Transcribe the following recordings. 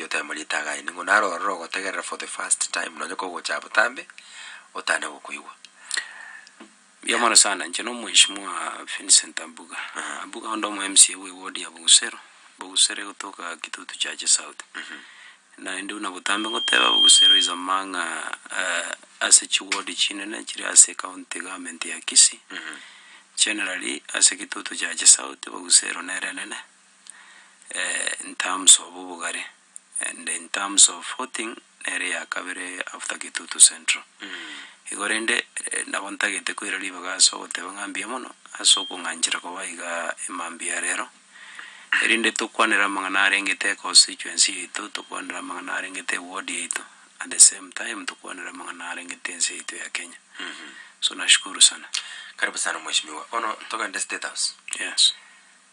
Yotema rita againi ng'o naro ororo ogotegerera for the first time nonye kogocha abotambe otane gokoigwa. Mbuya mono sana, inche na omweshimiwa Vincent Abuga. Abuga onde omo MCA bwe ward ya Bogusero, Bogusero egotoka Kitutu Chache South. Naende buna botambe ngoteba Bogusero is among ase chi ward chinene chiri ase county government ya Kisii. Generally ase Kitutu Chache South, Bogusero nere enene. in terms of obogare, and in terms of voting, nere eyakabere after Kitutu Central. Igo rende, nabo ntagete koira ribaga ase ogoteba ng'a mbuya mono, ase okong'anchera koba igaa mambia ya rero, erinde tokwanere amang'ana arengete econstituency yaito, tokwanere amang'ana arengete eward yaito, at the same time tokwanere amang'ana arengete ense yaito ya Kenya. So nashukuru sana. Karibu sana mweshimiwa. Bono togende State House. Yes.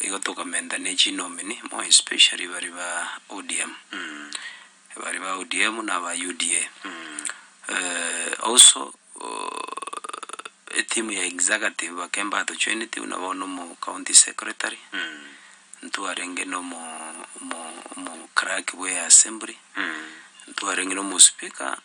igo tokomenta ne chinomini more especially bari ba ODM bari ba ODM na aba UDA also etimu ya executive ekero mbatochoeneti buna bono omo county secretary ntwarenge na omo omo omo clerk bw'eassembly ntwarenge na omo speaker.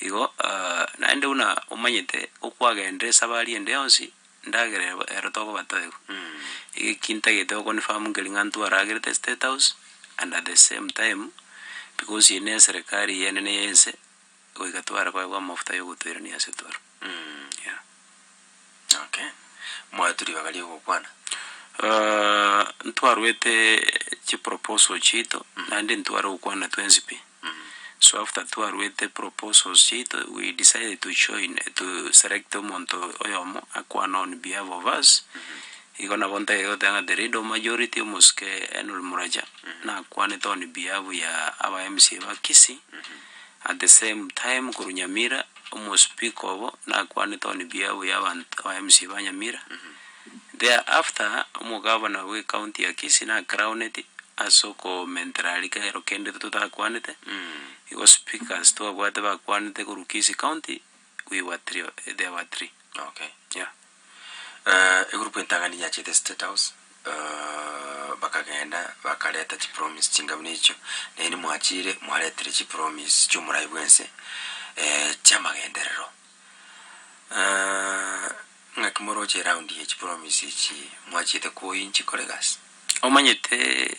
Igo naende buna omanyete okwagenda esabari ende yonsi ndagera ero ero tokoba toegwa. Iga eki ntagete okonifahamu nkeri ng'a ntware agerete estate house and at the same time because eye neserikari y'enene y'ense, goika tware koegwa amafuta yogotoirania ase toro yeah. Okay, mwaetu ribaga ri'ogokwana. Aah, ntwarwete chiproposal chiaito, naende ntware gokwana twensi pi. So after twarwete proposals chiaito, we decided to join, to select omonto oyomo akwane on behalf of us, igo nabo ntagete goteba ng'a the leader of majority omosike Henry Muracha, nakwanete on behalf ya aba mca ba Kisii, at the same time korwa Nyamira, Omospika obo nakwane toni biabu ya abanto aba mca ba Nyamira. There after omogabana bwe county ya Kisii na crowned ase okomentera aria kero kende totakwanete. Igo speakers twabwate bakwanete korwa Kisii county we were three, there were three. Okay. Yeah. Egurupu entang'ani yachete State House, bakagenda bakareta chipromise chingabuna echio, naende mwachire mwaretire chipromise chi'omoraai bwense chi'amagenderero. Ng'aki moroche eround ye chipromise echi mwachiete koinchi kore gasi? Omanyete.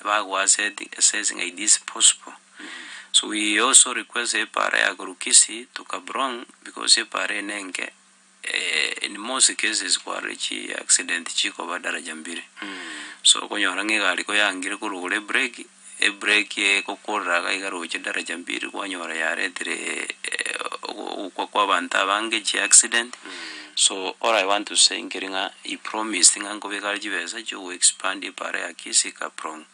Ebagoaseti assessing a it is possible so we also request epaara ya korwa Kisii to Kabrong because epaara eye nenke in most cases kwarorire chi accident chikoba daraja mbiri so okonyora ng'a egari koyangire korwa igoro ebreki ebreki eye ekokorera iga iga roche daraja mbiri kwanyora yaretire ogokwa kwa abanto abange chi accident. So all I want to say nkeri ng'a he promised ng'a nkobeka are chibesa chio go expand ebare ya Kisii Kaprong.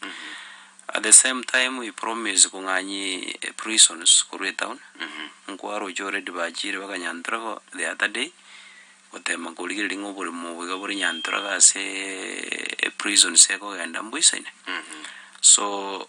At the same time he promised kong'anyi prisons korwa etown. Nkwaroche already bachire baka Nyantorago the other day gotema nkorigereria ng'a oboremo obo iga bore Nyantorago ase eprisons ekogenda mboisaine. So.